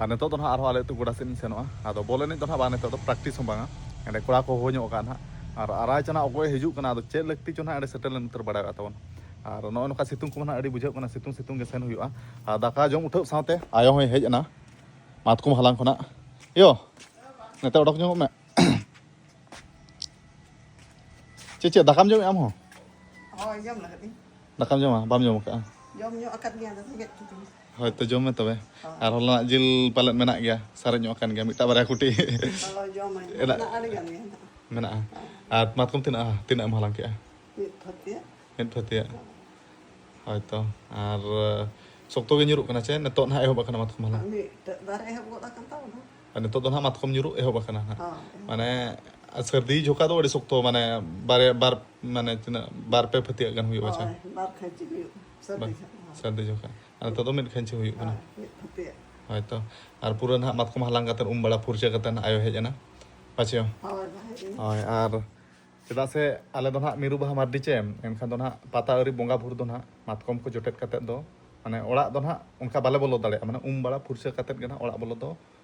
ᱟᱨ ᱱᱤᱛᱚᱜ ᱫᱚ ᱱᱟᱦᱟᱜ ᱟᱨᱦᱚᱸ ᱟᱞᱮ ᱟᱹᱛᱩ ᱜᱚᱰᱟ ᱥᱮᱫ ᱤᱧ ᱥᱮᱱᱚᱜᱼᱟ ᱟᱫᱚ ᱵᱚᱞ ᱮᱱᱮᱡ ᱫᱚ ᱱᱟᱦᱟᱜ ᱵᱟᱝ ᱱᱤᱛᱚᱜ ᱫᱚ ᱯᱨᱮᱠᱴᱤᱥ ᱦᱚᱸ ᱵᱟᱝᱟ ᱮᱸᱰᱮ ᱠᱚᱲᱟ ᱠᱚ ᱦᱚᱦᱚ ᱧᱚᱜ ᱟᱠᱟᱫᱼᱟ ᱱᱟᱦᱟᱜ ᱟᱨ ᱟᱨᱟᱭ ᱪᱟᱱᱟ ᱚᱠᱚᱭ ᱦᱤᱡᱩᱜ ᱠᱟᱱᱟ ᱟᱫᱚ ᱪᱮᱫ ᱞᱟᱹᱠᱛᱤ ᱪᱚ ᱱᱟᱦᱟᱜ ᱮᱸᱰᱮ ᱥᱮᱴᱮᱨ ᱞᱮᱱ ᱩᱛᱟᱹᱨ ᱵᱟᱲᱟᱭ ᱚᱲᱟᱜ ᱛᱟᱵᱚᱱ ᱟᱨ ᱱᱚᱜᱼᱚᱭ ᱱᱚᱝᱠᱟ ᱥᱤᱛᱩᱝ ᱠᱚᱢᱟ ᱱᱟᱦᱟᱜ ᱟᱹᱰᱤ ᱵᱩᱡᱷᱟᱹᱜ ᱠᱟᱱᱟ ᱥᱤᱛᱩᱝ ᱥᱤᱛᱩᱝ ᱜᱮ ᱥᱮᱱ ᱦᱩᱭᱩᱜᱼᱟ ᱟᱨ ᱫᱟᱠᱟ ᱡᱚᱢ ᱩᱴᱷᱟᱹᱣ ᱥᱟᱶᱛᱮ ᱟᱭᱳ ᱦᱚᱸᱭ ᱦᱮᱡ ᱮᱱᱟ ᱢᱟᱛᱠᱚᱢ ᱦᱟᱞᱟᱝ ᱠᱷᱚᱱᱟᱜ ᱭᱳ ᱱᱤᱛᱚᱜ ᱚᱰᱚᱠ ᱧᱚᱜᱚᱜ ᱢᱮ ᱪᱮᱫ ᱪᱮᱫ ᱫᱟᱠᱟᱢ ᱡᱚᱢᱮᱫ ᱟᱢ ᱦᱚᱸ ᱦᱳᱭ ᱡᱚᱢ ᱞᱟᱹᱜᱤᱫ ᱫᱟᱠᱟᱢ ᱡᱚᱢᱟ ᱵᱟᱢ ᱡᱚᱢ ᱟᱠᱟᱫᱼᱟ ᱡᱚᱢ ᱧᱚᱜ ᱟᱠᱟᱫ ᱜᱮᱭᱟ ᱟᱫᱚ ᱨᱮᱸᱜᱮᱡ ᱠᱤᱫᱤᱧᱟ ᱦᱳᱭᱛᱚ ᱡᱚᱢ ᱢᱮ ᱛᱚᱵᱮ ᱟᱨ ᱦᱚᱞᱟᱱᱟᱜ ᱡᱤᱞ ᱯᱟᱞᱮᱫ ᱢᱮᱱᱟᱜ ᱜᱮᱭᱟ ᱥᱟᱨᱮᱡ ᱧᱚᱜ ᱟᱠᱟᱱ ᱜᱮᱭᱟ ᱢᱤᱫᱴᱟᱝ ᱵᱟᱨᱭᱟ ᱠᱩᱴᱤ ᱢᱮᱱᱟᱜᱼᱟ ᱟᱨ ᱢᱟᱛᱠᱚᱢ ᱛᱤᱱᱟᱹᱜ ᱛᱤᱱᱟᱹᱜ ᱮᱢ ᱦᱟᱞᱟᱝ ᱠᱮᱜᱼᱟ ᱢᱤᱫ ᱯᱷᱟᱹᱛᱤᱭᱟᱜ ᱦᱳᱭᱛᱚ ᱟᱨ ᱥᱚᱠᱛᱚ ᱜᱮ ᱧᱩᱨᱩᱜ ᱠᱟᱱᱟ ᱪᱮ ᱱᱤᱛᱚᱜ ᱱᱟᱦᱟᱜ ᱮᱦᱚᱵ ᱟᱠᱟᱱᱟ ᱢᱟᱛᱠᱚᱢ ᱦᱟᱞᱟᱝ ᱟᱨ ᱱᱤᱛᱚᱜ ᱫᱚ ᱱᱟᱦᱟᱜ ᱢᱟᱛᱠᱚᱢ ᱧᱩᱨᱩᱜ ᱮᱦᱚᱵ ᱟᱠᱟᱱᱟ ᱱᱟᱦᱟᱜ ᱢᱟᱱᱮ ᱥᱟᱹᱨᱫᱤ ᱡᱷᱚᱠᱟ ᱫᱚ ᱟᱹᱰᱤ ᱥᱚᱠᱛᱚ ᱢᱟᱱᱮ ᱵᱟᱨᱭᱟ ᱵᱟᱨ ᱢᱟᱱᱮ ᱛᱤᱱᱟᱹᱜ ᱵᱟᱨ ᱯᱮ ᱯᱷᱟᱹᱛᱤᱭᱟᱜ ᱜᱟᱱ ᱦᱩᱭᱩᱜᱼᱟ ᱪᱮ ᱵᱟᱨ ᱠᱷᱟᱹᱪᱤ ᱦᱩᱭᱩᱜᱼᱟ ᱥᱟᱹᱨᱫᱤ ᱡᱚᱠᱷᱟ ᱟᱨ ᱱᱤᱛᱚᱜ ᱫᱚ ᱢᱤᱫ ᱠᱷᱟᱹᱧᱪᱤ ᱦᱩᱭᱩᱜ ᱠᱟᱱᱟ ᱦᱳᱭ ᱛᱚ ᱟᱨ ᱯᱩᱨᱟᱹ ᱱᱟᱦᱟᱜ ᱢᱟᱛᱠᱚᱢ ᱦᱟᱞᱟᱝ ᱠᱟᱛᱮ ᱩᱢ ᱵᱟᱲᱟ ᱯᱷᱩᱨᱪᱟᱹ ᱠᱟᱛᱮ ᱱᱟᱦᱟᱜ ᱟᱭᱳ ᱦᱮᱡ ᱮᱱᱟ ᱯᱟᱪᱮ ᱦᱳᱭ ᱟᱨ ᱪᱮᱫᱟᱜ ᱥᱮ ᱟᱞᱮ ᱫᱚ ᱱᱟᱦᱟᱜ ᱢᱤᱨᱩ ᱵᱟᱦᱟ ᱢᱟᱨᱰᱤ ᱪᱮ ᱮᱱᱠᱷᱟᱱ ᱫᱚ ᱱᱟᱦᱟᱜ ᱯᱟᱛᱟ ᱟᱹᱣᱨᱤ ᱵᱚᱸᱜᱟ ᱵᱩᱨᱩ ᱫᱚ ᱱᱟᱦᱟᱜ ᱢᱟᱛᱠᱚᱢ ᱠᱚ ᱡᱚᱴᱮᱫ ᱠᱟᱛᱮ ᱫᱚ ᱢᱟᱱᱮ ᱚᱲᱟᱜ ᱫᱚ ᱱᱟᱦᱟᱜ ᱚᱱᱠᱟ ᱵᱟᱞᱮ ᱵᱚᱞᱚ ᱫᱟᱲᱮᱭᱟᱜᱼᱟ ᱢᱟᱱᱮ ᱩᱢ ᱵᱟᱲᱟ ᱯᱷᱩᱨᱪᱟᱹ ᱠᱟᱛᱮ ᱜᱮ ᱱᱟᱦᱟᱜ ᱚᱲᱟᱜ ᱵᱚᱞᱚ ᱫᱚ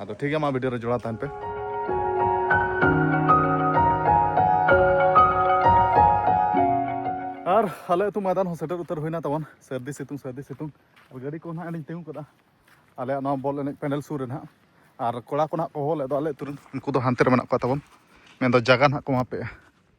ᱟᱫᱚ ᱴᱷᱤᱠ ᱜᱮᱭᱟ ᱢᱟ ᱵᱷᱤᱰᱤᱭᱳ ᱨᱮ ᱡᱚᱲᱟᱣ ᱛᱟᱦᱮᱱ ᱯᱮ ᱟᱨ ᱟᱞᱮ ᱟᱹᱛᱩ ᱢᱚᱭᱫᱟᱱ ᱦᱚᱸ ᱥᱮᱴᱮᱨ ᱩᱛᱟᱹᱨ ᱦᱩᱭᱱᱟ ᱛᱟᱵᱚᱱ ᱥᱟᱹᱨᱫᱤ ᱥᱤᱛᱩᱝ ᱥᱟᱹᱨᱫᱤ ᱥᱤᱛᱩᱝ ᱟᱨ ᱜᱟᱹᱰᱤ ᱠᱚ ᱱᱟᱦᱟᱜ ᱞᱤᱧ ᱛᱤᱸᱜᱩ ᱠᱟᱫᱟ ᱟᱞᱮᱭᱟᱜ ᱱᱚᱣᱟ ᱵᱚᱞ ᱮᱱᱮᱡ ᱯᱮᱱᱰᱮᱞ ᱥᱩᱨ ᱨᱮ ᱱᱟᱦᱟᱜ ᱟᱨ ᱠᱚᱲᱟ ᱠᱚ ᱱᱟᱦᱟᱜ ᱠᱚ ᱦᱚᱦᱚ ᱞᱮᱫ ᱫᱚ ᱟᱞᱮ ᱟᱹᱛᱩ ᱨᱮᱱ ᱩᱱᱠᱩ ᱫᱚ ᱦᱟᱱᱛᱮ ᱨᱮ ᱢᱮᱱᱟᱜ ᱠᱚᱣᱟ ᱛᱟᱵᱚᱱ ᱢᱮᱱᱫᱚ ᱡᱟᱭᱜᱟ ᱱᱟᱦᱟᱜ ᱠᱚ ᱮᱢᱟ ᱯᱮᱭᱟ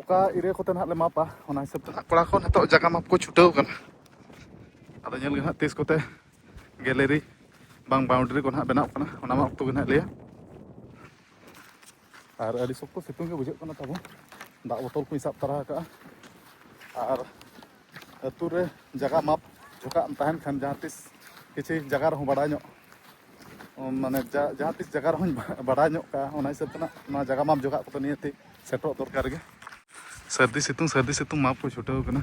ᱚᱠᱟ ᱤᱨᱟᱹ ᱠᱚᱛᱮ ᱱᱟᱦᱟᱜ ᱞᱮ ᱢᱟᱯᱟ ᱚᱱᱟ ᱦᱤᱥᱟᱹᱵ ᱛᱮ ᱱᱟᱦᱟᱜ ᱠᱚᱲᱟ ᱠᱚ ᱱᱤᱛᱚᱜ ᱡᱟᱭᱜᱟ ᱢᱟᱯ ᱠᱚ ᱪᱷᱩᱴᱟᱹᱣ ᱠᱟᱱᱟ ᱟᱫᱚ ᱧᱮᱞ ᱜᱮ ᱱᱟᱦᱟᱜ ᱛᱤᱥ ᱠᱚᱛᱮ ᱜᱮᱞᱮᱨᱤ ᱵᱟᱝ ᱵᱟᱣᱩᱱᱰᱨᱤ ᱠᱚ ᱱᱟᱦᱟᱜ ᱵᱮᱱᱟᱣ ᱠᱟᱱᱟ ᱚᱱᱟ ᱢᱟ ᱚᱠᱛᱚ ᱜᱮ ᱱᱟᱦᱟᱜ ᱞᱟᱹᱭᱟ ᱟᱨ ᱟᱹᱰᱤ ᱥᱚᱠᱛᱚ ᱥᱤᱛᱩᱝ ᱜᱮ ᱵᱩᱡᱷᱟᱹᱜ ᱠᱟᱱᱟ ᱛᱟᱵᱚᱱ ᱫᱟᱜ ᱵᱚᱛᱚᱞ ᱠᱚᱧ ᱥᱟᱵ ᱛᱟᱨᱟ ᱟᱠᱟᱫᱼᱟ ᱟᱨ ᱟᱹᱛᱩ ᱨᱮ ᱡᱟᱭᱜᱟ ᱢᱟᱯ ᱚᱠᱟᱜ ᱮᱢ ᱛᱟᱦᱮᱱ ᱠᱷᱟᱱ ᱡᱟᱦᱟᱸ ᱛᱤᱥ ᱠᱤᱪᱷᱩ ᱡᱟᱭᱜᱟ ᱨᱮᱦᱚᱸ ᱵᱟᱲᱟᱭ ᱧᱚᱜ ᱢᱟᱱᱮ ᱡᱟᱦᱟᱸ ᱛᱤᱥ ᱡᱟᱭᱜᱟ ᱨᱮᱦᱚᱸᱧ ᱵᱟᱲᱟᱭ ᱧᱚᱜ ᱠᱟᱜᱼᱟ ᱚᱱᱟ ᱦᱤᱥᱟᱹᱵ ᱛᱮ ᱱᱚᱣᱟ ᱡᱟᱭᱜᱟ ᱢᱟᱯ ᱡᱚᱜᱟᱜ ᱠᱚᱫᱚ ᱱᱤᱭᱟᱹᱛᱮ ᱥᱮᱴᱮᱨᱚᱜ ᱫᱚᱨᱠᱟᱨ ᱜᱮ ᱥᱟᱹᱨᱫᱤ ᱥᱤᱛᱩᱝ ᱥᱟᱹᱨᱫᱤ ᱥᱤᱛᱩᱝ ᱢᱟᱯ ᱠᱚ ᱪᱷᱩᱴᱟᱹᱣ ᱠᱟᱱᱟ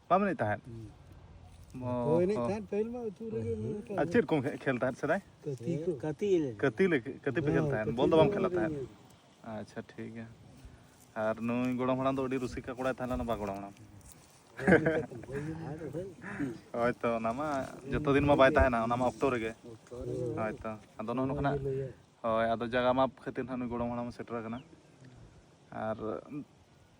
ᱵᱟᱢ ᱮᱱᱮᱡ ᱛᱟᱦᱮᱸᱫ ᱟᱨ ᱪᱮᱫ ᱠᱚᱢ ᱠᱷᱮᱞ ᱛᱟᱦᱮᱸᱫ ᱥᱮᱫᱟᱭ ᱠᱟᱹᱛᱤ ᱠᱟᱹᱛᱤ ᱠᱟᱹᱛᱤ ᱠᱟᱹᱛᱤ ᱯᱮ ᱠᱷᱮᱞ ᱛᱟᱦᱮᱸᱫ ᱵᱚᱞ ᱫᱚ ᱵᱟᱢ ᱠᱷᱮᱞᱟ ᱛᱟᱦᱮᱸᱫ ᱟᱪᱪᱷᱟ ᱴᱷᱤᱠ ᱜᱮᱭᱟ ᱟᱨ ᱱᱩᱭ ᱜᱚᱲᱚᱢ ᱦᱟᱲᱟᱢ ᱫᱚ ᱟᱹᱰᱤ ᱨᱩᱥᱤᱠᱟ ᱠᱚᱲᱟᱭ ᱛᱟᱦᱮᱸ ᱞᱮᱱᱟ ᱵᱟ ᱜᱚᱲᱚᱢ ᱦᱟᱲᱟᱢ ᱦᱳᱭᱛᱚ ᱚᱱᱟ ᱢᱟ ᱡᱚᱛᱚ ᱫᱤᱱ ᱢᱟ ᱵᱟᱭ ᱛᱟᱦᱮᱱᱟ ᱚᱱᱟ ᱢᱟ ᱚᱠᱛᱚ ᱨᱮᱜᱮ ᱦᱳᱭᱛᱚ ᱟᱫᱚ ᱱᱚᱜᱼᱚ ᱱᱚᱝᱠᱟᱱᱟᱜ ᱦᱳᱭ ᱟᱫᱚ ᱡᱟᱭᱜᱟ ᱢᱟᱯ ᱠᱷᱟᱹᱛᱤᱨ ᱱᱟᱦᱟᱜ ᱱᱩᱭ ᱜᱚᱲᱚᱢ ᱦᱟᱲᱟᱢ ᱥᱮᱴᱮᱨ ᱟᱠᱟᱱᱟ ᱟᱨ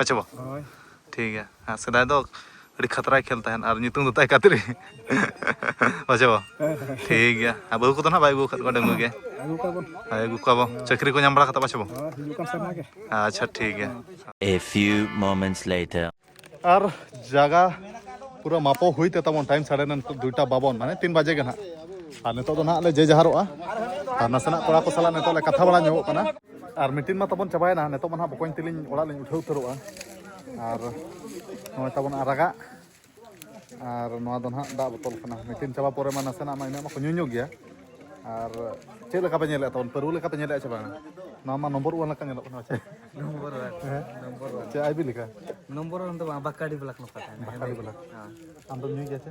ᱟᱪᱪᱷᱟ ᱵᱟ ᱦᱳᱭ ᱴᱷᱤᱠ ᱜᱮᱭᱟ ᱦᱮᱸ ᱥᱮᱫᱟᱭ ᱫᱚ ᱟᱹᱰᱤ ᱠᱷᱟᱛᱨᱟᱭ ᱠᱷᱮᱞ ᱛᱟᱦᱮᱱ ᱟᱨ ᱧᱩᱛᱩᱢ ᱫᱚ ᱛᱟᱭ ᱠᱟᱛᱨᱤ ᱟᱪᱪᱷᱟ ᱵᱟ ᱴᱷᱤᱠ ᱜᱮᱭᱟ ᱟᱨ ᱵᱟᱹᱦᱩ ᱠᱚᱫᱚ ᱱᱟᱦᱟᱜ ᱵᱟᱭ ᱟᱹᱜᱩ ᱟᱠᱟᱫ ᱠᱚᱣᱟ ᱰᱟᱹᱝᱜᱩ ᱜᱮ ᱟᱹᱜᱩ ᱠᱚᱣᱟ ᱵᱚᱱ ᱦᱳᱭ ᱟᱹᱜᱩ ᱠᱚᱣᱟ ᱵᱚ ᱪᱟᱹᱠᱨᱤ ᱠᱚ ᱧᱟᱢ ᱵᱟᱲᱟ ᱠᱟᱛᱮ ᱯᱟᱪᱷᱮ ᱵᱚ ᱦᱳᱭ ᱦᱤᱡᱩᱜ ᱠᱟᱱ ᱥᱮᱨᱢᱟ ᱜᱮ ᱟᱪᱪᱷᱟ ᱴᱷᱤᱠ ᱜᱮᱭᱟ A few moments later. ᱟᱨ ᱡᱟᱭᱜᱟ ᱯᱩᱨᱟᱹ ᱢᱟᱯᱚ ᱦᱩᱭ ᱛᱮ ᱛᱟᱵᱚᱱ ᱴᱟᱭᱤᱢ ᱥᱟᱲᱮ ᱱᱚ ᱱᱤᱛᱚᱜ ᱫᱩᱭᱴᱟ ᱵᱟᱵᱚᱱ ᱢᱟᱱᱮ ᱛᱤᱱ ᱵᱟᱡᱮ ᱜᱮ ᱱᱟᱦᱟᱜ ᱟᱨ ᱱᱤᱛᱚᱜ ᱫᱚ ᱱᱟᱦᱟᱜ ᱞᱮ ᱡᱮ ᱡᱟᱦᱟᱨᱚᱜᱼᱟ ᱟᱨ ᱱᱟᱥᱮᱱᱟᱜ ᱠᱚᱲᱟ ᱠᱚ ᱥᱟᱞᱟᱜ ᱱᱤᱛᱚᱜ ᱞᱮ ᱠᱟᱛᱷᱟ ᱵᱟᱲᱟ ᱧᱚᱜᱚᱜ ᱠᱟᱱᱟ ᱟᱨ ᱢᱤᱴᱤᱝ ᱢᱟ ᱛᱟᱵᱚᱱ ᱪᱟᱵᱟᱭᱮᱱᱟ ᱱᱤᱛᱚᱜ ᱢᱟ ᱱᱟᱦᱟᱜ ᱵᱚᱠᱚᱧ ᱛᱮᱞᱤᱧ ᱚᱲᱟᱜ ᱞᱤᱧ ᱩᱴᱷᱟᱹᱣ ᱩᱛᱟᱹᱨᱚᱜᱼᱟ ᱟᱨ ᱱᱚᱜᱼᱚᱭ ᱛᱟᱵᱚᱱ ᱟᱨᱟᱜᱟᱜ ᱟᱨ ᱱᱚᱣᱟ ᱫᱚ ᱱᱟᱦᱟᱜ ᱫᱟᱜ ᱵᱚᱛᱚᱞ ᱠᱟᱱᱟ ᱢᱤᱴᱤᱝ ᱪᱟᱵᱟ ᱯᱚᱨᱮ ᱢᱟ ᱱᱟᱥᱮᱱᱟᱜ ᱢᱟ ᱤᱱᱟᱹᱜ ᱢᱟᱠᱚ ᱧᱩ ᱧᱚᱜ ᱜᱮᱭᱟ ᱟᱨ ᱪᱮᱫ ᱞᱮᱠᱟ ᱯᱮ ᱧᱮᱞᱮᱫ ᱛᱟᱵᱚᱱ ᱯᱟᱹᱨᱣᱟᱹ ᱞᱮᱠᱟ ᱯᱮ ᱧᱮᱞᱮᱫᱼᱟ ᱥᱮ ᱵᱟᱝ ᱱᱚᱣᱟ ᱢᱟ ᱱᱚᱢᱵᱚᱨ ᱚᱣᱟᱱ ᱞᱮᱠᱟ ᱧᱮᱞᱚᱜ ᱠᱟᱱᱟ ᱪᱮ ᱱᱚᱢᱵᱚᱨ ᱚᱣᱟᱱ ᱱᱚᱢᱵᱚᱨ ᱚᱣᱟᱱ ᱪᱮ ᱟᱭᱵᱤ ᱞᱮᱠᱟ ᱱᱚᱢᱵᱚᱨ ᱚᱣᱟᱱ ᱫᱚ ᱵᱟᱝ ᱵᱟᱠᱟᱲᱤ ᱵᱞᱟᱠ ᱱᱚᱝᱠᱟ ᱛᱟᱦᱮᱱᱟ ᱵᱟᱠᱟᱲᱤ ᱵᱞᱟᱠ ᱟᱢ ᱫᱚᱢ ᱧᱩᱭ ᱜᱮᱭᱟ ᱪᱮ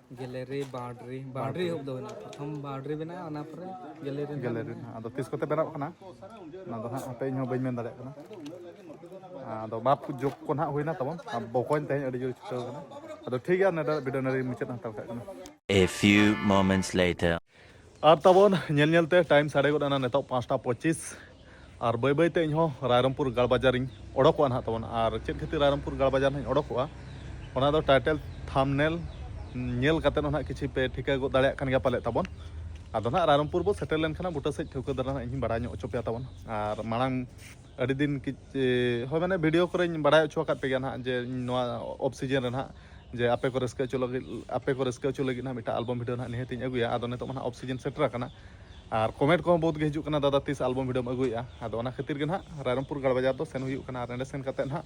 ᱜᱮᱞᱮᱨᱤ ᱵᱟᱣᱰᱨᱤ ᱵᱟᱣᱰᱨᱤ ᱮᱦᱚᱵ ᱫᱚ ᱵᱮᱱᱟᱜᱼᱟ ᱯᱨᱚᱛᱷᱚᱢ ᱵᱟᱣᱰᱨᱤ ᱵᱮᱱᱟᱜᱼᱟ ᱚᱱᱟ ᱯᱚᱨᱮ ᱜᱮᱞᱮᱨᱤ ᱜᱮᱞᱮᱨᱤ ᱟᱫᱚ ᱛᱤᱥ ᱠᱚᱛᱮ ᱵᱮᱱᱟᱜ ᱠᱟᱱᱟ ᱚᱱᱟ ᱫᱚ ᱦᱟᱸᱜ ᱦᱟᱯᱮ ᱤᱧ ᱦᱚᱸ ᱵᱟᱹᱧ ᱢᱮᱱ ᱫᱟᱲᱮᱭᱟᱜ ᱠᱟᱱᱟ ᱟᱫᱚ ᱢᱟᱯ ᱡᱳᱜᱽ ᱠᱚ ᱱᱟᱦᱟᱜ ᱦᱩᱭᱱᱟ ᱛᱟᱵᱚᱱ ᱵᱚᱠᱚᱧ ᱛᱮᱦᱮᱧ ᱟᱹᱰᱤ ᱡᱳᱨ ᱪᱷᱩᱴᱟᱹᱣ ᱠᱟᱱᱟ ᱟᱫᱚ ᱴᱷᱤᱠ ᱜᱮᱭᱟ ᱱᱚᱰᱮ ᱵᱷᱤᱰᱤᱭᱳ ᱱᱚᱰᱮ ᱢᱩᱪᱟᱹᱫ ᱦᱟᱛᱟᱣ ᱠᱟᱜ ᱠᱟᱱᱟ A few moments later ᱟᱨ ᱛᱟᱵᱚᱱ ᱧᱮᱞ ᱧᱮᱞ ᱛᱮ ᱴᱟᱭᱤᱢ ᱥᱟᱰᱮ ᱜᱚᱫ ᱮᱱᱟ ᱱᱤᱛᱚᱜ ᱯᱟᱸᱪᱴᱟ ᱯᱚᱸᱪᱤᱥ ᱟᱨ ᱵᱟᱹᱭ ᱵᱟᱹᱭ ᱛᱮ ᱤᱧ ᱦᱚᱸ ᱨᱟᱭᱨᱚᱢᱯᱩᱨ ᱜᱟᱲ ᱵᱟᱡᱟᱨᱤᱧ ᱚᱰᱚᱠᱚᱜᱼᱟ ᱱᱟᱦᱟᱜ ᱛᱟᱵᱚᱱ ᱟᱨ ᱪᱮᱫ ᱠᱷᱟᱹᱛᱤᱨ ᱨᱟᱭᱨᱚᱢᱯᱩᱨ ᱜᱟᱲ ᱵᱟᱡᱟᱨ ᱱᱟᱦᱟᱜ ᱚᱰᱚᱠᱚᱜᱼᱟ ᱚᱱᱟ ᱫᱚ ᱴᱟᱭᱴᱮᱞ ᱛᱷᱟᱢᱱᱮᱞ ᱧᱮᱞ ᱠᱟᱛᱮ ᱦᱚᱸ ᱱᱟᱦᱟᱜ ᱠᱤᱪᱷᱤ ᱯᱮ ᱴᱷᱤᱠᱟᱹ ᱜᱚᱫ ᱫᱟᱲᱮᱭᱟᱜ ᱠᱟᱱ ᱜᱮᱭᱟ ᱯᱟᱞᱮ ᱛᱟᱵᱚᱱ ᱟᱫᱚ ᱱᱟᱦᱟᱜ ᱨᱟᱭᱨᱚᱢᱯᱩᱨ ᱵᱚ ᱥᱮᱴᱮᱨ ᱞᱮᱱᱠᱷᱟᱱ ᱵᱩᱴᱟᱹ ᱥᱮᱡ ᱴᱷᱟᱹᱣᱠᱟᱹ ᱫᱷᱟᱨᱟ ᱱᱟᱦᱟᱜ ᱤᱧ ᱵᱟᱲᱟᱭ ᱧᱚᱜ ᱦᱚᱪᱚ ᱯᱮᱭᱟ ᱛᱟᱵᱚᱱ ᱟᱨ ᱢᱟᱲᱟᱝ ᱟᱹᱰᱤ ᱫᱤᱱ ᱦᱳᱭ ᱢᱟᱱᱮ ᱵᱷᱤᱰᱤᱭᱳ ᱠᱚᱨᱮᱧ ᱵᱟᱲᱟᱭ ᱦᱚᱪᱚ ᱟᱠᱟᱫ ᱯᱮᱜᱮᱭᱟ ᱱᱟᱦᱟᱜ ᱡᱮ ᱱᱚᱣᱟ ᱚᱯᱷ ᱥᱤᱡᱤᱱ ᱨᱮ ᱱᱟᱦᱟᱜ ᱡᱮ ᱟᱯᱮ ᱠᱚ ᱨᱟᱹᱥᱠᱟᱹ ᱦᱚᱪᱚ ᱞᱟᱹᱜᱤᱫ ᱟᱯᱮ ᱠᱚ ᱨᱟᱹᱥᱠᱟᱹ ᱦᱚᱪᱚ ᱞᱟᱹᱜᱤᱫ ᱱᱟᱦᱟᱜ ᱢᱤᱫᱴᱟᱝ ᱟᱞᱵᱚᱢ ᱵᱷᱤᱰᱤᱭᱳ ᱱᱟᱦᱟᱜ ᱱᱤᱦᱟᱹᱛᱤᱧ ᱟᱹᱜᱩᱭᱟ ᱟᱫᱚ ᱱᱤᱛᱚᱜ ᱢᱟ ᱱᱟᱦᱟᱜ ᱚᱯᱷ ᱥᱤᱡᱤᱱ ᱥᱮᱴᱮᱨ ᱟᱠᱟᱱᱟ ᱟᱨ ᱠᱚᱢᱮᱱᱴ ᱠᱚᱦᱚᱸ ᱵᱚᱦᱩᱛ ᱜᱮ ᱦᱤᱡᱩᱜ ᱠᱟᱱᱟ ᱫᱟᱫᱟ ᱛᱤᱥ ᱟᱞᱵᱚᱢ ᱵᱷᱤᱰᱤᱭᱳᱢ ᱟᱹᱜᱩᱭᱮᱫᱼᱟ ᱟᱫᱚ ᱚᱱᱟ ᱠᱷᱟᱹᱛᱤᱨ ᱜᱮ ᱱᱟᱦᱟᱜ ᱨᱟᱭᱨᱚᱝᱯᱩᱨ ᱜᱟᱲ ᱵᱟᱡᱟᱨ ᱫᱚ ᱥᱮᱱ ᱦᱩᱭᱩᱜ ᱠᱟᱱᱟ ᱟᱨ ᱚᱸᱰᱮ ᱥᱮᱱ ᱠᱟᱛᱮᱫ ᱱᱟᱦᱟᱜ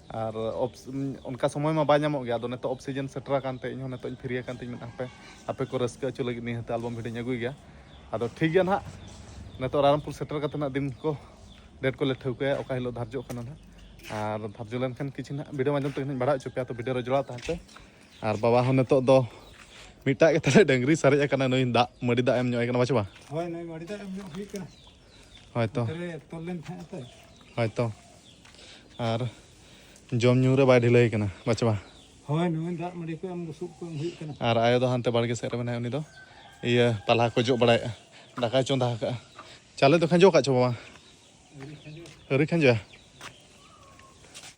ᱟᱨ ᱚᱱᱠᱟ ᱥᱚᱢᱚᱭ ᱢᱟ ᱵᱟᱭ ᱧᱟᱢᱚᱜ ᱜᱮᱭᱟ ᱟᱫᱚ ᱱᱤᱛᱚᱜ ᱚᱯᱷ ᱥᱤᱡᱤᱱ ᱥᱮᱴᱮᱨ ᱟᱠᱟᱱᱛᱮ ᱤᱧ ᱦᱚᱸ ᱱᱤᱛᱚᱜ ᱤᱧ ᱯᱷᱤᱨᱤ ᱟᱠᱟᱱᱛᱮ ᱤᱧ ᱢᱮᱱ ᱦᱟᱯᱮ ᱟᱯᱮ ᱠᱚ ᱨᱟᱹᱥᱠᱟᱹ ᱦᱚᱪᱚ ᱞᱟᱹᱜᱤᱫ ᱱᱤᱦᱟᱹᱛ ᱟᱞᱵᱚᱢ ᱵᱷᱤᱰᱤᱭᱳᱧ ᱟᱹᱜᱩᱭ ᱜᱮᱭᱟ ᱟᱫᱚ ᱴᱷᱤᱠ ᱜᱮᱭᱟ ᱱᱟᱦᱟᱜ ᱱᱤᱛᱚᱜ ᱨᱟᱭᱨᱚᱝᱯᱩᱨ ᱥᱮᱴᱮᱨ ᱠᱟᱛᱮ ᱱᱟᱜ ᱫᱤᱱ ᱠᱚ ᱰᱮᱴ ᱠᱚᱞᱮ ᱴᱷᱟᱹᱣᱠᱟᱹᱭᱟ ᱚᱠᱟ ᱦᱤᱞᱳᱜ ᱫᱷᱟᱨᱡᱚᱜ ᱠᱟᱱᱟ ᱱᱟᱦᱟᱜ ᱟᱨ ᱫᱷᱟᱨᱡᱚ ᱞᱮᱱᱠᱷᱟᱱ ᱠᱤᱪᱷᱩ ᱱᱟᱦᱟᱜ ᱵᱷᱤᱰᱤᱭᱳ ᱢᱟᱫᱽᱫᱷᱚᱢ ᱛᱮᱜᱮ ᱱᱟᱦᱟᱜ ᱵᱟᱲᱟᱭ ᱦᱚᱪᱚ ᱯᱮᱭᱟ ᱛᱚ ᱵᱷᱤᱰᱤᱭᱳ ᱨᱮ ᱡᱚᱲᱟᱣ ᱛᱟᱦᱮᱱ ᱯᱮ ᱟᱨ ᱵᱟᱵᱟ ᱦᱚᱸ ᱱᱤᱛᱚᱜ ᱫᱚ ᱢᱤᱫᱴᱟᱜ ᱜᱮ ᱛᱟᱞᱮ ᱰᱟᱹᱝᱨᱤ ᱥᱟᱨᱮᱡ ᱟᱠᱟᱱᱟ ᱱᱩᱭ ᱫᱟᱜ ᱢᱟᱹᱰᱤ ᱫᱟᱜ ᱮᱢ ᱧᱚᱜ ᱟᱭ ᱠᱟᱱᱟ ᱵᱟᱪᱮ ᱵᱟ ᱦᱳᱭ ᱱᱩᱭ ᱢᱟᱹᱰᱤ ᱫᱟᱜ ᱮᱢ ᱧᱚᱜ ᱦᱩᱭᱩᱜ ᱠᱟᱱᱟ ᱦᱳᱭᱛᱚ ᱛᱚᱞ ᱞᱮᱱ ᱛᱟᱦᱮᱸᱜ ᱛᱚ ᱦᱳᱭᱛᱚ ᱟᱨ ᱡᱚᱢ ᱧᱩ ᱨᱮ ᱵᱟᱭ ᱰᱷᱤᱞᱟᱹᱭ ᱠᱟᱱᱟ ᱵᱟᱪᱵᱟ ᱦᱳᱭ ᱱᱩᱭ ᱫᱟᱜ ᱢᱟᱹᱰᱤ ᱠᱚ ᱮᱢ ᱵᱩᱥᱩᱵ ᱠᱚ ᱮᱢ ᱦᱩᱭᱩᱜ ᱠᱟᱱᱟ ᱟᱨ ᱟᱭᱳ ᱫᱚ ᱦᱟᱱᱛᱮ ᱵᱟᱲᱜᱮ ᱥᱮᱫ ᱨᱮ ᱢᱮᱱᱟᱭᱟ ᱩᱱᱤ ᱫᱚ ᱤᱭᱟᱹ ᱯᱟᱞᱦᱟ ᱠᱚ ᱡᱚᱜ ᱵᱟᱲᱟᱭᱮᱫᱼᱟ ᱫᱟᱠᱟᱭ ᱪᱚᱸᱫᱟ ᱟᱠᱟᱫᱼᱟ ᱪᱟᱣᱞᱮ ᱫᱚ ᱠᱷᱟᱸᱡᱚ ᱟᱠᱟᱫ ᱪᱚ ᱵᱟᱵᱟ ᱟᱹᱣᱨᱤ ᱠᱷᱟᱸᱡᱚᱭᱟ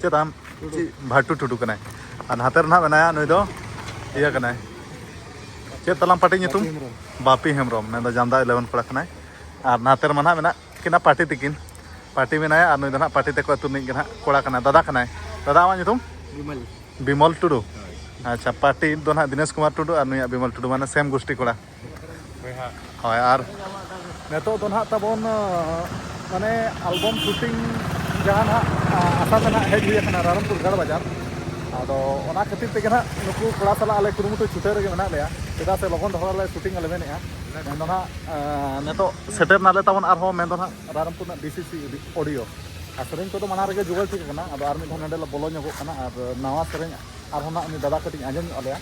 ᱪᱮᱫ ᱟᱢ ᱪᱮᱫ ᱵᱷᱟᱴᱩ ᱴᱩᱰᱩ ᱠᱟᱱᱟᱭ ᱟᱨ ᱱᱟᱛᱮ ᱨᱮ ᱱᱟᱦᱟᱜ ᱢᱮᱱᱟᱭᱟ ᱱᱩᱭ ᱫᱚ ᱤᱭᱟᱹ ᱠᱟᱱᱟᱭ ᱪᱮᱫ ᱛᱟᱞᱟᱝ ᱯᱟᱴᱤ ᱧᱩᱛᱩᱢ ᱵᱟᱯᱤ ᱦᱮᱢᱵᱨᱚᱢ ᱢᱮᱱ ᱫᱚ ᱡᱟᱢᱫᱟ ᱤᱞᱮᱵᱷᱮᱱ ᱠᱚᱲᱟ ᱠᱟᱱᱟᱭ ᱟᱨ ᱱᱟᱛᱮ ᱨᱮᱢᱟ ᱱᱟᱦᱟᱜ ᱢᱮᱱᱟᱜ ᱠᱤᱱᱟ ᱯᱟᱴᱤ ᱛᱤᱠᱤᱱ ᱯᱟᱴᱤ ᱢᱮᱱᱟᱭᱟ ᱟᱨ ᱱᱩᱭ ᱫᱚ ᱱᱟᱦᱟᱜ ᱯᱟᱴᱤ ᱛᱮᱠᱚ ᱟᱹᱛᱩ ᱨᱤᱱᱤᱡ ᱜᱮ ᱱᱟᱦᱟᱜ ᱠᱚᱲᱟ ᱠᱟᱱᱟᱭ ᱫᱟᱫᱟ ᱠᱟᱱᱟᱭ ᱫᱟᱫᱟ ᱟᱢᱟᱜ ᱧᱩᱛᱩᱢ ᱵᱤᱢᱚᱞ ᱵᱤᱢᱚᱞ ᱴᱩᱰᱩ ᱟᱪᱪᱷᱟ ᱯᱟᱴᱤ ᱫᱚ ᱱᱟᱦᱟᱜ ᱫᱤᱱᱮᱥ ᱠᱩᱢᱟᱨ ᱴᱩᱰᱩ ᱟᱨ ᱱᱩᱭᱟᱜ ᱵᱤᱢᱚᱞ ᱴᱩᱰᱩ ᱢᱟᱱᱮ ᱥᱮᱢ ᱜᱩᱥᱴᱤ ᱠᱚᱲᱟ ᱦᱳᱭ ᱟᱨ ᱱᱤᱛᱚᱜ ᱫᱚ ᱱᱟᱦᱟᱜ ᱛᱟᱵᱚᱱ ᱢᱟᱱᱮ ᱟᱞᱵᱚᱢ ᱥᱩᱴᱤᱝ ᱡᱟᱦᱟᱸ ᱱᱟᱦᱟᱜ ᱟᱥᱟ ᱛᱮ ᱱᱟᱦᱟᱜ ᱦᱮᱡ ᱦᱩᱭ ᱟᱠᱟᱱᱟ ᱨᱟᱭᱨᱚᱝᱯᱩᱨ ᱜᱟᱲ ᱵᱟᱡᱟᱨ ᱟᱫᱚ ᱚᱱᱟ ᱠᱷᱟᱹᱛᱤᱨ ᱛᱮᱜᱮ ᱱᱟᱦᱟᱜ ᱱᱩᱠᱩ ᱠᱚᱲᱟ ᱥᱟᱞᱟᱜ ᱟᱞᱮ ᱠᱩᱨᱩᱢᱩᱴᱩ ᱪᱷᱩᱴᱟᱹᱣ ᱨᱮᱜᱮ ᱢᱮᱱᱟᱜ ᱞᱮᱭᱟ ᱪᱮᱫᱟᱜ ᱥᱮ ᱞᱚᱜᱚᱱ ᱫᱷᱟᱨᱟ ᱞᱮ ᱥᱩᱴᱤᱝ ᱟᱞᱮ ᱢᱮᱱᱮᱜᱼᱟ ᱢᱮᱱᱫᱚ ᱱᱟᱦᱟᱜ ᱱᱤᱛᱚᱜ ᱥᱮᱴᱮᱨ ᱱᱟᱞᱮ ᱛᱟᱵᱚᱱ ᱟᱨᱦᱚᱸ ᱢᱮᱱᱫᱚ ᱱᱟᱦᱟᱜ ᱨᱟᱭᱨᱚᱝᱯᱩᱨ ᱨᱮᱱᱟᱜ ᱰᱤᱥᱤᱥᱤ ᱚᱰᱤᱭᱳ ᱟᱨ ᱥᱮᱨᱮᱧ ᱠᱚᱫᱚ ᱢᱟᱲᱟᱝ ᱨᱮᱜᱮ ᱡᱳᱜᱟᱲ ᱴᱷᱤᱠ ᱟᱠᱟᱱᱟ ᱟᱫᱚ ᱟᱨ ᱢᱤᱫ ᱫᱷᱟᱣ ᱱᱚᱰᱮ ᱞᱮ ᱵᱚᱞᱚ ᱧᱚᱜᱚᱜ ᱠᱟᱱᱟ ᱟᱨ ᱱᱟᱣᱟ ᱥᱮᱨᱮᱧ ᱟᱨᱦᱚᱸ ᱱᱟᱦᱟᱜ ᱩᱱᱤ ᱫᱟᱫᱟ ᱠᱟᱹᱴᱤᱡ ᱟᱸᱡᱚᱢ ᱧᱚᱜ ᱟᱞᱮᱭᱟ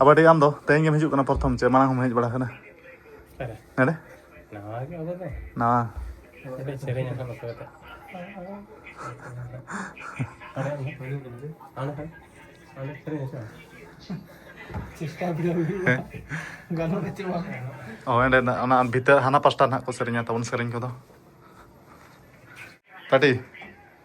ᱟᱵᱟᱨ ᱴᱷᱤᱠ ᱟᱢ ᱫᱚ ᱛᱮᱦᱮᱧ ᱜᱮᱢ ᱦᱤᱡᱩᱜ ᱠᱟᱱᱟ ᱯᱨᱚᱛᱷᱚᱢ ᱪᱮ ᱢᱟᱲᱟᱝ ᱦᱚᱢ ᱦᱮᱡ ᱵᱟᱲᱟ ᱟᱠᱟᱱᱟ ᱱᱚᱰᱮ ᱱᱟᱣᱟ ᱚᱱᱟ ᱵᱷᱤᱛᱟᱹᱨ ᱦᱟᱱᱟ ᱯᱟᱥᱴᱟ ᱱᱟᱜ ᱠᱚ ᱥᱮᱨᱮᱧᱟ ᱛᱟᱵᱚᱱ ᱥᱮᱨᱮᱧ ᱠᱚᱫᱚ ᱯᱟᱴᱤ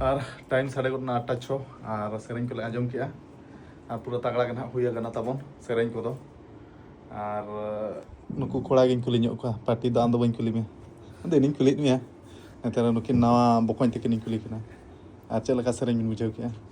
ᱟᱨ ᱴᱟᱭᱤᱢ ᱥᱟᱰᱮ ᱜᱚᱫ ᱮᱱᱟ ᱟᱴᱴᱟ ᱪᱷᱚ ᱟᱨ ᱥᱮᱨᱮᱧ ᱠᱚᱞᱮ ᱟᱸᱡᱚᱢ ᱠᱮᱜᱼᱟ ᱟᱨ ᱯᱩᱨᱟᱹ ᱛᱟᱜᱲᱟ ᱜᱮ ᱱᱟᱦᱟᱜ ᱦᱩᱭ ᱟᱠᱟᱱᱟ ᱛᱟᱵᱚᱱ ᱥᱮᱨᱮᱧ ᱠᱚᱫᱚ ᱟᱨ ᱱᱩᱠᱩ ᱠᱚᱲᱟ ᱜᱤᱧ ᱠᱩᱞᱤ ᱧᱚᱜ ᱠᱚᱣᱟ ᱯᱟᱴᱤ ᱫᱚ ᱟᱢ ᱫᱚ ᱵᱟᱹᱧ ᱠᱩᱞᱤ ᱢᱮᱭᱟ ᱟᱫᱚ ᱤᱧᱤᱧ ᱠᱩᱞᱤᱭᱮᱫ ᱢᱮᱭᱟ ᱱᱮᱛᱟᱨ ᱱᱩᱠᱤᱱ ᱱᱟᱣᱟ ᱵᱚᱠᱚᱧ ᱛᱟᱹᱠᱤᱱᱤᱧ ᱠᱩᱞᱤ ᱠᱤᱱᱟ ᱟᱨ ᱪᱮᱫ ᱞᱮᱠᱟ ᱥᱮᱨᱮᱧ ᱵᱤᱱ ᱵᱩᱡᱷᱟᱹᱣ ᱠᱮᱜᱼᱟ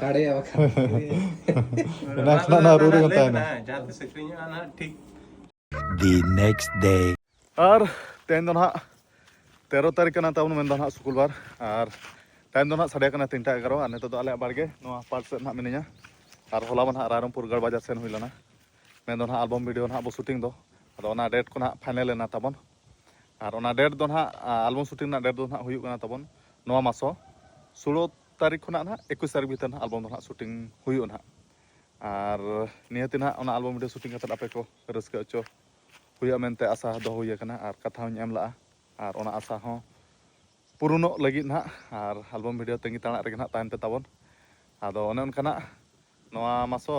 ᱥᱟᱲᱮ ᱵᱟᱠᱷᱟᱱ ᱮᱱᱟᱝ ᱠᱷᱚᱱᱟᱜ ᱱᱚᱣᱟ ᱨᱩ ᱨᱮᱜᱮ ᱛᱟᱦᱮᱱᱟ ᱡᱟᱦᱟᱸ ᱛᱤᱥ ᱟᱹᱠᱷᱨᱤᱧᱚᱜᱼᱟ ᱱᱟᱦᱟᱜ ᱴᱷᱤᱠ ᱫᱤ ᱱᱮᱠᱥᱴ ᱰᱮ ᱟᱨ ᱛᱮᱦᱮᱧ ᱫᱚ ᱱᱟᱦᱟᱜ ᱛᱮᱨᱚ ᱛᱟᱹᱨᱤᱠᱷ ᱠᱟᱱᱟ ᱛᱟᱵᱚᱱ ᱢᱮᱱᱫᱟ ᱱᱟᱦᱟᱜ ᱥᱩᱠᱩᱞ ᱵᱟᱨ ᱟᱨ ᱛᱟᱭᱚᱢ ᱫᱚ ᱱᱟᱦᱟᱜ ᱥᱟᱰᱮ ᱠᱟᱱᱟ ᱛᱤᱱᱴᱟ ᱮᱜᱟᱨᱚ ᱟᱨ ᱱᱤᱛᱚᱜ ᱫᱚ ᱟᱞᱮᱭᱟᱜ ᱵᱟᱲᱜᱮ ᱱᱚᱣᱟ ᱯᱟᱴ ᱥᱮᱫ ᱱᱟᱦᱟᱜ ᱢᱤᱱᱟᱹᱧᱟ ᱟᱨ ᱦᱚᱞᱟ ᱢᱟ ᱱᱟᱦᱟᱜ ᱨᱟᱭᱨᱚᱢᱯᱩᱨ ᱜᱟᱲ ᱵᱟᱡᱟᱨ ᱥᱮᱱ ᱦᱩᱭ ᱞᱮᱱᱟ ᱢᱮᱱᱫᱚ ᱱᱟᱦᱟᱜ ᱟᱞᱵᱚᱢ ᱵᱷᱤᱰᱤᱭᱳ ᱱᱟᱦᱟᱜ ᱵᱚ ᱥᱩᱴᱤᱝ ᱫᱚ ᱟᱫᱚ ᱚᱱᱟ ᱰᱮᱴ ᱠᱚ ᱱᱟᱦᱟᱜ ᱯᱷᱟᱭᱱᱮᱞ ᱮᱱᱟ ᱛᱟᱵᱚᱱ ᱟᱨ ᱚᱱᱟ ᱰᱮᱴ ᱫᱚ ᱱᱟᱦᱟᱜ ᱟᱞᱵᱚᱢ ᱥᱩᱴᱤᱝ ᱨᱮᱱᱟᱜ ᱰᱮᱴ ᱫᱚ ᱱᱟᱦᱟᱜ ᱦᱩᱭᱩᱜ ᱠᱟᱱᱟ ᱛᱟᱵᱚᱱ ᱱᱚᱣᱟ ᱢᱟᱥᱚ ᱥᱳᱞᱳ ᱛᱟᱹᱨᱤᱠᱷ ᱠᱷᱚᱱᱟᱜ ᱱᱟᱦᱟᱜ ᱮᱠᱩᱥ ᱛᱟᱹᱨᱤᱠᱷ ᱵᱷᱤᱛᱟᱹᱨ ᱱᱟᱦᱟᱜ ᱟᱞᱵᱚᱢ ᱫᱚ ᱱᱟᱦᱟᱜ ᱥᱩᱴᱤᱝ ᱦᱩᱭᱩᱜᱼᱟ ᱱᱟᱦᱟᱜ ᱟᱨ ᱱᱤᱦᱟᱹᱛ ᱱᱟᱦᱟᱜ ᱚᱱᱟ ᱟᱞᱵᱚᱢ ᱵᱷᱤᱰᱤᱭᱳ ᱥᱩᱴᱤᱝ ᱠᱟᱛᱮᱫ ᱟᱯᱮ ᱠᱚ ᱨᱟᱹᱥᱠᱟᱹ ᱦᱚᱪᱚ ᱦᱩᱭᱩᱜᱼᱟ ᱢᱮᱱᱛᱮ ᱟᱥᱟ ᱫᱚᱦᱚ ᱦᱩᱭ ᱟᱠᱟᱱᱟ ᱟᱨ ᱠᱟᱛᱷᱟ ᱦᱚᱧ ᱮᱢ ᱞᱟᱜᱼᱟ ᱟᱨ ᱚᱱᱟ ᱟᱥᱟ ᱦᱚᱸ ᱯᱩᱨᱩᱱᱚᱜ ᱞᱟᱹᱜᱤᱫ ᱱᱟᱦᱟᱜ ᱟᱨ ᱟᱞᱵᱚᱢ ᱵᱷᱤᱰᱤᱭᱳ ᱛᱟᱺᱜᱤ ᱛᱟᱲᱟᱜ ᱨᱮᱜᱮ ᱱᱟᱦᱟᱜ ᱛᱟᱦᱮᱱ ᱯᱮ ᱛᱟᱵᱚᱱ ᱟᱫᱚ ᱚᱱᱮ ᱚᱱᱠᱟᱱᱟᱜ ᱱᱚᱣᱟ ᱢᱟᱥᱚ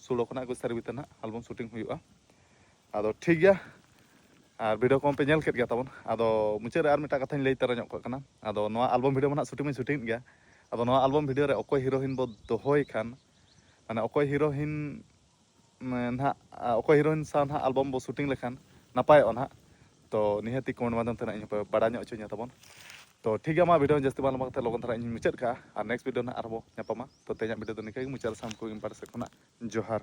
ᱥᱩᱲᱚ ᱠᱷᱚᱱᱟᱜ ᱮᱠᱩᱥ ᱛᱟᱹᱨᱤᱠᱷ ᱵᱷᱤᱛᱟᱹᱨ ᱱᱟᱦᱟᱜ ᱟᱞᱵᱚᱢ ᱥᱩᱴᱤᱝ ᱦᱩᱭᱩᱜᱼᱟ ᱟᱫᱚ ᱴᱷᱤᱠ ᱜᱮᱭᱟ ᱟᱨ ᱵᱷᱤᱰᱤᱭᱳ ᱠᱚᱢᱟ ᱯᱮ ᱧᱮᱞ ᱠᱮᱫ ᱜᱮᱭᱟ ᱛᱟᱵᱚᱱ ᱟᱫᱚ ᱢᱩᱪᱟᱹᱫ ᱨᱮ ᱟᱨ ᱢᱤᱫᱴᱟᱝ ᱠᱟᱛᱷᱟᱧ ᱞᱟᱹᱭ ᱛᱟᱨᱟ ᱧᱚᱜ ᱠᱟᱜ ᱠᱟᱱᱟ ᱟᱫᱚ ᱱᱚᱣᱟ ᱟᱞᱵᱚᱢ ᱵᱷᱤᱰᱤᱭᱳ ᱢᱟ ᱱᱟᱜ ᱥᱩᱴᱤᱝ ᱢᱟᱧ ᱥᱩᱴᱤᱝ ᱮᱫ ᱜᱮᱭᱟ ᱟᱫᱚ ᱱᱚᱣᱟ ᱟᱞᱵᱚᱢ ᱵᱷᱤᱰᱤᱭᱳ ᱨᱮ ᱚᱠᱚᱭ ᱦᱤᱨᱳᱭᱤᱱ ᱵᱚ ᱫᱚᱦᱚᱭ ᱠᱷᱟᱱ ᱢᱟᱱᱮ ᱚᱠᱚᱭ ᱦᱤᱨᱳᱭᱤᱱ ᱱᱟᱜ ᱚᱠᱚᱭ ᱦᱤᱨᱳᱭᱤᱱ ᱥᱟᱶ ᱱᱟᱜ ᱟᱞᱵᱚᱢ ᱵᱚ ᱥᱩᱴᱤᱝ ᱞᱮᱠᱷᱟᱱ ᱱᱟᱯᱟᱭᱚᱜᱼᱟ ᱱᱟᱜ ᱛᱚ ᱱᱤᱦᱟᱹᱛᱤ ᱠᱚᱢᱮᱱᱴ ᱢᱟᱫᱽᱫᱷᱚᱢ ᱛᱮ ᱱᱟᱜ ᱤᱧ ᱦᱚᱸᱯᱮ ᱵᱟᱲᱟᱭ ᱧᱚᱜ ᱦᱚᱪᱚᱧᱟ ᱛᱟᱵᱚᱱ ᱛᱚ ᱴᱷᱤᱠ ᱜᱮᱭᱟ ᱢᱟ ᱵᱷᱤᱰᱤᱭᱳ ᱡᱟᱹᱥᱛᱤ ᱵᱟᱝ ᱞᱚᱢᱵᱟ ᱠᱟᱛᱮ ᱞᱚᱜᱚᱱ ᱫᱷᱟᱨᱟ ᱤᱧ ᱢᱩᱪᱟᱹᱫ ᱠᱟᱜᱼᱟ ᱟᱨ ᱱᱮᱠᱥᱴ ᱵᱷᱤᱰᱤᱭᱳ ᱱᱟᱜ ᱟᱨᱦᱚᱸ ᱵᱚ ᱧᱟᱯᱟᱢᱟ ᱛᱚ ᱛᱮᱦᱮᱧᱟᱜ ᱵᱷᱤᱰᱤᱭᱳ ᱫᱚ ᱱᱤᱝᱠᱟᱹ ᱜᱮ ᱢᱩᱪᱟᱹᱫ ᱨᱮ ᱥᱟᱱᱟᱢ ᱠᱚ ᱤᱧ ᱯᱟᱦᱴᱟ ᱥᱮᱫ ᱠᱷᱚᱱᱟᱜ ᱡᱚᱦᱟᱨ